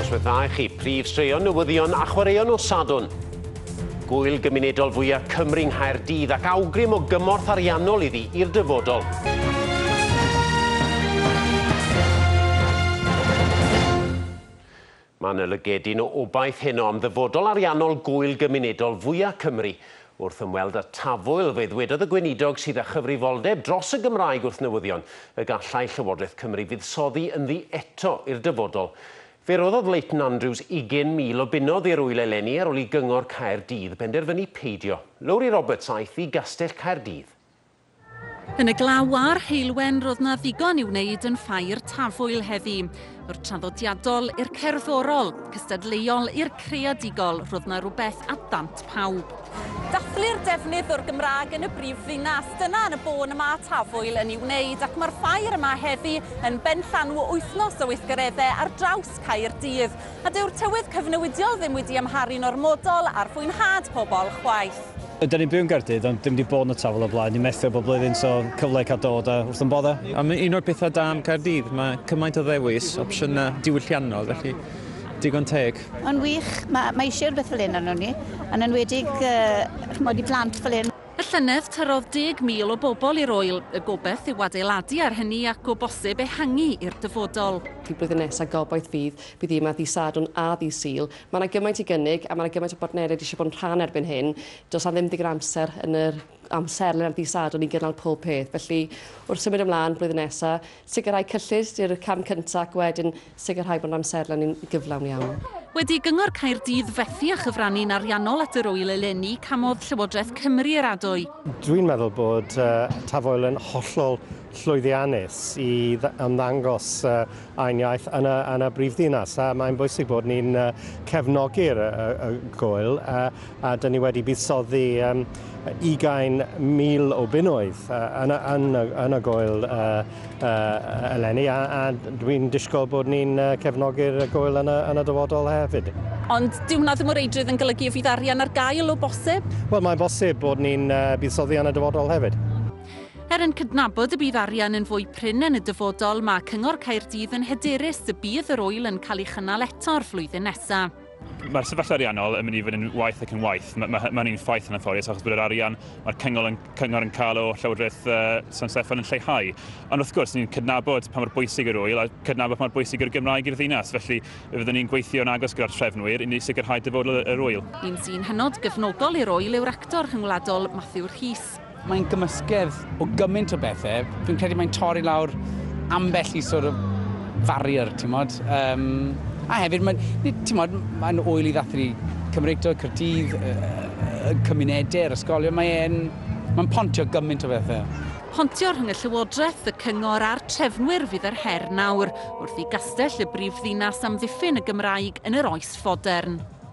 Noswaith dda i chi, prif straeon, newyddion a chwaraeon o Sadwn. Gwyl gymunedol fwyaf Cymru Nghaerdydd ac awgrym o gymorth ariannol iddi i'r dyfodol. Mae yna lygedyn o obaith heno am ddyfodol ariannol gwyl gymunedol fwyaf Cymru. Wrth ymweld â Tafwyl, fe ddwedodd y Gweinidog sydd â chyfrifoldeb dros y Gymraeg wrth newyddion y gallai Llywodraeth Cymru fuddsoddi ynddi eto i'r dyfodol. Fe roddodd Leighton Andrews 20,000 o bunnoedd i'r ŵyl eleni ar ôl i Gyngor Caerdydd benderfynu peidio. Lowri Roberts aeth i Gastell Caerdydd. Yn y glaw a'r heulwen roedd 'na ddigon i wneud yn Ffair Tafwyl heddi. O'r traddodiadol i'r cerddorol, cystadleuol i'r creadigol, roedd 'na rhywbeth at ddant pawb. Dathlu'r defnydd o'r Gymraeg yn y brif ddinas, dyna yn y bôn y mae Tafwyl yn ei wneud ac mae'r ffair yma heddi yn benllanw wythnos o weithgareddau ar draws Caerdydd. A dyw'r tywydd cyfnewidiol ddim wedi amharu'n ormodol ar fwynhad pobl chwaith. Ydyn ni'n byw yn Gaerdydd ond dim 'di bod yn y Tafwyl o'r blaen, ni'n methu bob blwyddyn so cyfle i cael dod a wrth yn bodda. A mae un o'r pethau da am Caerdydd, mae cymaint o ddewis, opsiynau diwylliannol, felly digon teg. Mae'n wych, mae eisiau rhywbeth fel hyn arnon ni, yn enwedig ch'mod i plant fel hyn. Y llynedd, tyrrodd deg mil o bobl i'r ŵyl. Y gobaith yw adeiladu ar hynny ac o bosib ehangu i'r dyfodol. Y blwyddyn nesa gobaith fydd bydd yma ddydd Sadwrn a ddydd Sul. Mae yna gymaint i gynnig a mae yna gymaint o bartneriaid eisiau bod yn rhan erbyn hyn. Does yna ddim digon o amser yn yr amserlen ar ddydd Sadwrn i gynnal pob peth. Felly, wrth symud ymlaen blwyddyn nesa, Sicrhau cyllid yw'r cam cyntaf ac wedyn sicrhau bod amserlen yn gyflawn iawn. Wedi i Gyngor Caerdydd fethu â chyfrannu'n ariannol at yr ŵyl eleni, camodd Llywodraeth Cymru yr adwy. Dwi'n meddwl bod Taf Oel yn hollol llwyddiannus i ymddangos ein iaith yn y, yn y brifddinas, a mae'n bwysig bod ni'n cefnogi'r y, y gŵyl, a a dyn ni wedi buddsoddi um, 20,000 o bunnoedd uh, yn, yn, yn y gwyl uh, uh, eleni a, a dwi'n disgwyl bod ni'n uh, cefnogi'r gwyl yn y, yn y dyfodol hefyd. Ond dyw hwnna ddim o reidrwydd yn golygu y fydd arian ar gael o bosib? Wel, mae'n bosib bod ni'n uh, buddsoddi yn y dyfodol hefyd. Er yn cydnabod y bydd arian yn fwy prin yn y dyfodol, mae Cyngor Caerdydd yn hyderus y bydd yr oel yn cael ei chynnal eto'r flwyddyn nesaf. Mae'r sefyllfa ariannol yn mynd i fod yn waeth ac yn waeth. Mae, mae, mae hynny'n ffaith yn anffodus achos bod yr arian mae'r cyngor yn, cyngor yn cael o Llywodraeth uh, San Steffan yn lleihau. Ond wrth gwrs, ni'n cydnabod pa mor bwysig yr wyl a cydnabod pa mor bwysig yr Gymraeg i'r ddinas. Felly, fyddwn ni'n gweithio'n agos gyda'r trefnwyr i ni sicrhau dyfodol yr wyl. Un sy'n hynod gefnogol i'r wyl yw'r actor rhyngwladol Matthew Rhys. Mae'n gymysgedd o gymaint o bethau. Fi'n credu mae'n torri lawr ambell i sort of farrier, ti'n modd. Um, a hefyd, mae'n mae oel i ddathlu Cymreictod, Cyrdydd, y cymunedau, yr ysgolion. Mae'n mae pontio gymaint o bethau. Pontio rhwng y Llywodraeth, y Cyngor a'r trefnwyr fydd yr her nawr, wrth i gastell y brif ddinas amddiffyn y Gymraeg yn yr oes fodern.